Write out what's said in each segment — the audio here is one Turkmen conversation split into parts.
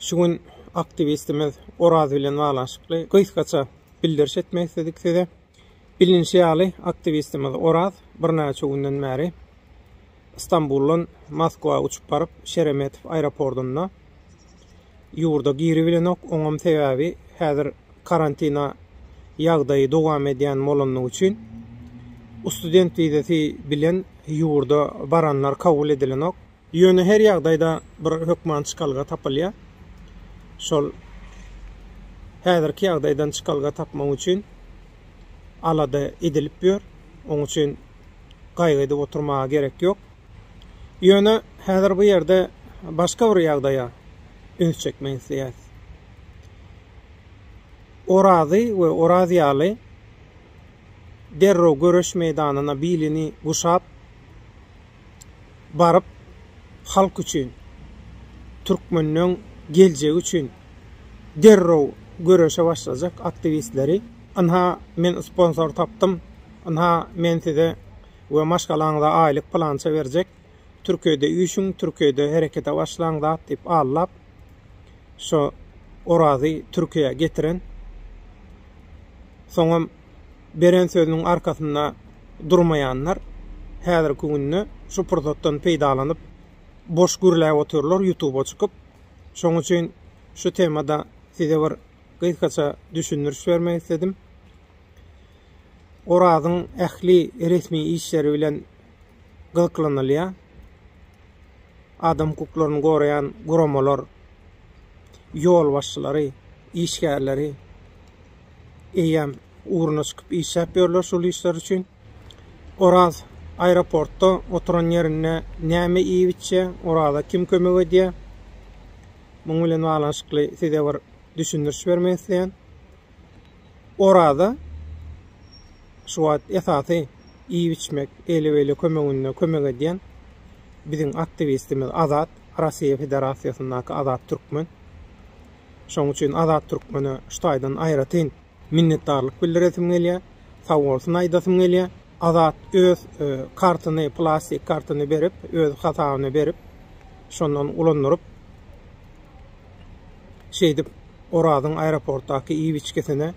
Şu gün aktiwistimiz Oraz bilen baglanyşykly gysgaça bildiriş etmek isledik size. Bilinişi ýaly, aktiwistimiz Oraz birnäçe günden bäri Stambuldan Moskwa uçup baryp, Şeremetow aeropordynda ýurda giribilenok. Oňam sebäbi häzir karantina ýagdaýy dowam edýän bolandygy üçin student wizasy bilen ýurda baranlar kabul edilenok. Ýöne her ýagdaýda bir hökman çykalga tapylýar. Şol häzirki ýagdaýdan çykalga tapmak üçin alada edilip ýör. Oň üçin gaýgy edip oturmaga gerek ýok. Ýöne häzir bu ýerde başga bir ýagdaýa üns çekmek isleýäris. Orazy we Oraz ýaly derrew göreş meýdanyna bilini guşap, baryp halk üçin, türkmenleň geljegi üçin derrew göreşe başlajak aktiwistleri ynha men sponsor tapdym, ynha men size we maşgalaňyza aýlyk pylança berjek, Türkiýede üýşüň, Türkiýede herekete başlaň zat diýip aldap şo Orazy Türkiýä getiren, soňam beren sözüniň arkasynda durmaýanlar häzirki günde şu pursatdan peýdalanyp boş gürläp otyrlar ýutuba çykyp. Şoň üçin şu temada size bir gysgaça düşündiriş bermek isledim. Orazyň ähli resmi işleri bilen gyzyklanylýar. Adam hukuklaryny goraýan guramalar, ýolbaşçylary, işgärleri eýýäm ugruna çykyp işläp ýörler şul işler üçin. Oraz aeroportda oturan ýerinde näme iýip içýä, Oraza kim kömek edýä? Muň bilen baglanyşykly size bir düşündiriş bermek isleýän. Oraza şu wagt esasy iýip içmek, eli beli kömeginde kömek edýän biziň aktiwistimiz Azat, Rossiýa Federasiýasyndaky Azat Türkmen. Şoň üçin Azat Türkmene şu taýdan aýratyn Minnetdarlyk bildiresim gelýär. Sag bolsun aýdasym gelýär. Azat öz kartyny, plastik kartyny berip, öz hasabyna berip, şondan ulandyryp, şeýdip Orazyň aeroportdaky iýip-içgisine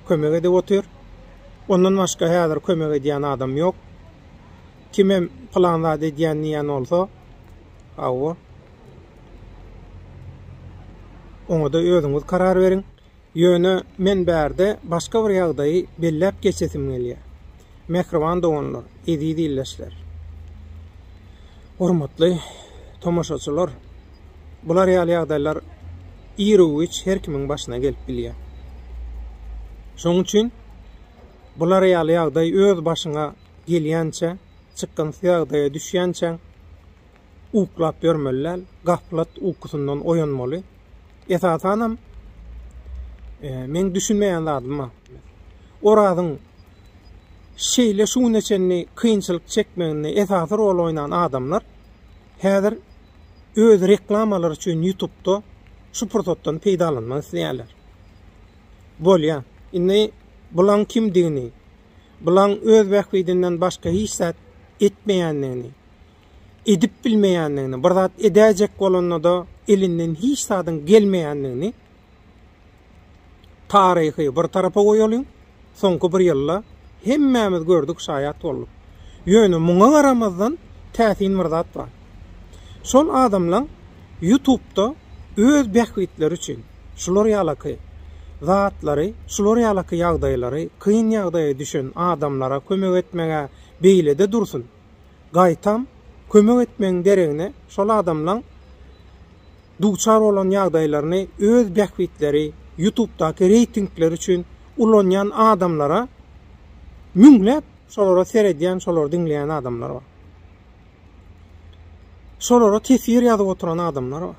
kömek edip otyr. Ondan başga häzir kömek edýän adam ýok. Kimem pylan zat edýän diýen bolsa, hawa. Oňa-da özüňiz karar beriň. Ýöne men bärde başga bir ýagdaýy belläp geçesim gelýär. Mähriban doganlar, eziz ildeşler! Hormatly tomaşaçylar! Bular ýaly ýagdaýlar ir-u-giç her kimiň başyna gelip bilýär. Şonuň üçin bular ýaly ýagdaý öz başyňa gelýänçä, çykgynsyz ýagdaýa düşýänçäň, uklap ýörmeli däl, gaflat ukusyndan oýanmaly. Esasanam e, meň düşünmeýän zadym bar. Orazyň şeýle şu güne çenli kynçylyk çekmeginde esasy rol oýnan adamlar häzir öz reklamalary üçin YouTube-da şu pursatdan peýdalanmak isleýärler. Bolýa. Indi bulaň kimdigini, bulaň öz bähbidinden başga hiç zat etmeýändigini, edip bilmeýändigini, bir zat edäýjek bolanda-da elinden hiç zadyň gelmeýändigini taryhy bir tarapa goýalyň, soňky bir ýylda hemmämiz gördük, şaýat bolduk. Ýöne muňa garamazdan täsin bir zat bar. Şol adamlaň YouTube-da öz bähbitleri üçin şular ýalaky zatlary, şular ýalaky ýagdaýlary, kyn ýagdaýa düşen adamlara kömek etmegä beýlede dursun, gaýtam kömek etmegiň deregine şol adamlaň duçar bolan ýagdaýlaryny öz bähbitleri, ýutubdaky reýtingleri üçin ulanýan adamlara müňläp şolara seredýän, şolary diňleýän adamlar bar. Şolara teswir ýazyp oturan adamlar bar.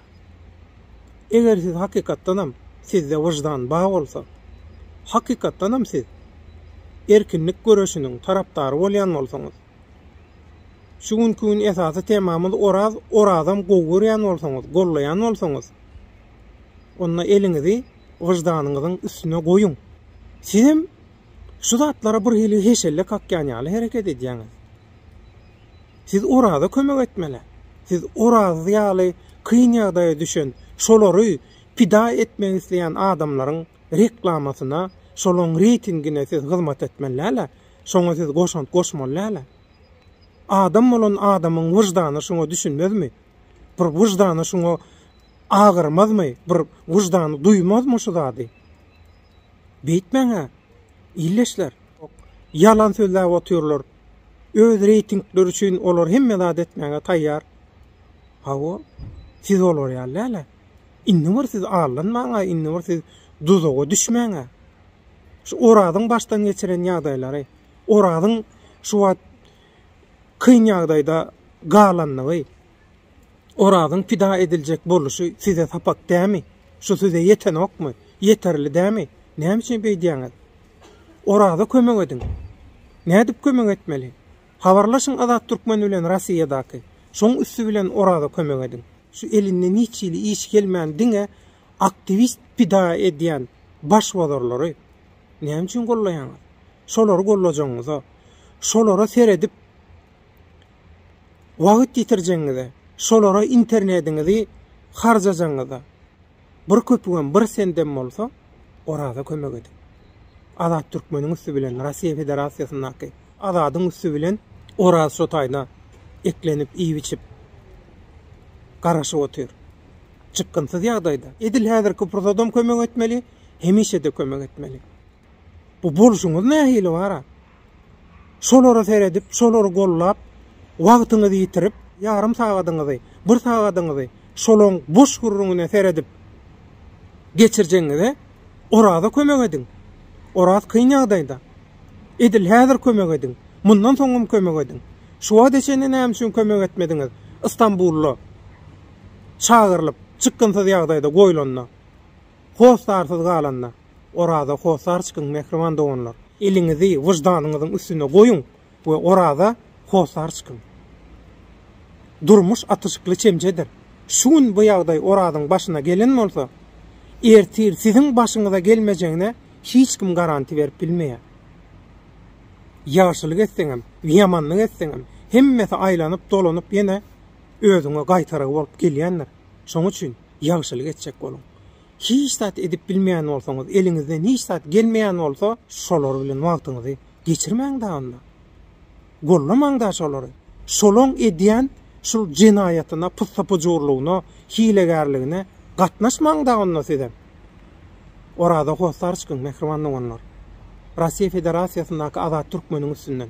Eger siz hakykatdanam sizde wyždan bar bolsa, hakykatdanam siz erkinlik göreşiniň tarapdary bolýan bolsaňyz, şu günki gün esasy temamyz Oraz, Orazam gowy görýän bolsaňyz, gollaýan bolsaňyz, onda eliňizi wyždanyňyzyň üstüne goýuň. Sizem şu zatlara birhili heşelle kakýan ýaly hereket edýäňiz. Siz Oraza kömek etmeli. Siz Oraz ýaly kyn ýagdaýa düşen, şolary pida etmek isleýän adamlaryň reklamasyna, şolaň reýtingine siz hyzmat etmeli dälä. Şoňa siz goşant goşmaly dälä. Adam bolan adamyň wyždany şuňa düşünmezmi? Bir wyždany şuňa agyrmazmy? Bir wyždany duýmazmy şu zady? Beýtmäň-ä, ildeşler. Ýalan sözläp otyrlar. Öz reýtingleri üçin olar hemme zady etmäge taýýar. Hawa, siz olar ýaly däl-ä. Indi bir siz aldanmaň-a, indi bir siz duzaga düşmäň-ä. Şu Orazyň başdan geçiren ýagdaýlary, Orazyň şu wagt kyn ýagdaýda galandygy, Orazyň pida ediljek boluşy size sapak dämi? Şu size ýetenokmy? Ýeterli dämi? Näme üçin beýdýäňiz? Oraza kömek ediň! Nädip kömek etmeli? Habarlaşyň Azat Türkmen bilen Rossiýadaky. Şoň üsti bilen Oraza kömek ediň. Şu elinden hiç hili iş gelmän diňe aktiwist pida edýän başbozarlary näme üçin gollaýaňyz? Şolary gollajagyňyza, şolara seredip wagt ýitirjegiňize, şolara internetiňizi harjajagyňyza bir köpügem, bir sendem bolsa Oraza kömek ediň. Azat Türkmeniň üsti bilen, Russiýa Federasiýasyndaky Azadyň üsti bilen Oraz şo taýda eklenip, iýip-içip, garaşyp otyr. Çykgynsyz ýagdaýda. Edil häzirki pursadam kömek etmeli, hemişe-de kömek etmeli. Bu bolşuňyz nähili bara? Şolara seredip, şolary gollap, wagtyňyzy ýitirip, ýarym sagadyňyzy, bir sagadyňyzy şolaň boş gürrüňine seredip geçirjegiňize Oraza kömek ediň. Oraz kyn ýagdaýda. Edil häzir kömek ediň. Mundan soňam kömek ediň. Şu wagta çenli näme üçin kömek etmediňiz? Istanbulda çagyrylyp, çykgynsyz ýagdaýda goýlanda. Hossarsyz galanda, Oraza hossar çykyň, mähriban doganlar! Eliňizi wyždanyňyzyň üstüne goýuň we Oraza hossar çykyň! Durmuş atyşykly çemçedir. Şu gün bu ýagdaý Orazyň başyna gelen bolsa, ertir siziň başyňyza gelmejegine hiç kim garanti berip bilmeýär. Ýagşylyk etseňem, ýamanlyk etseňem, hemmesi aýlanyp-dolanyp ýene özüňe gaýtarygy bolup gelýändir. Şoň üçin. ýagşylyk etjek boluň. Hiç zat edip bilmeýän bolsaňyz, eliňizden hiç zat gelmeýän bolsa, şolar bilen wagtyňyzy geçirmäň-de onda. Gollamaň-da şolary. Şolaň edýän şul jenaýatyna, pussapujurlygyna, hilegärligine gatnaşmaň-da onda sizem. Oraza Hossarçkyň, mähriban doganlar. Russiýa Federasiýasyndaky Azat Türkmeniň üstünden.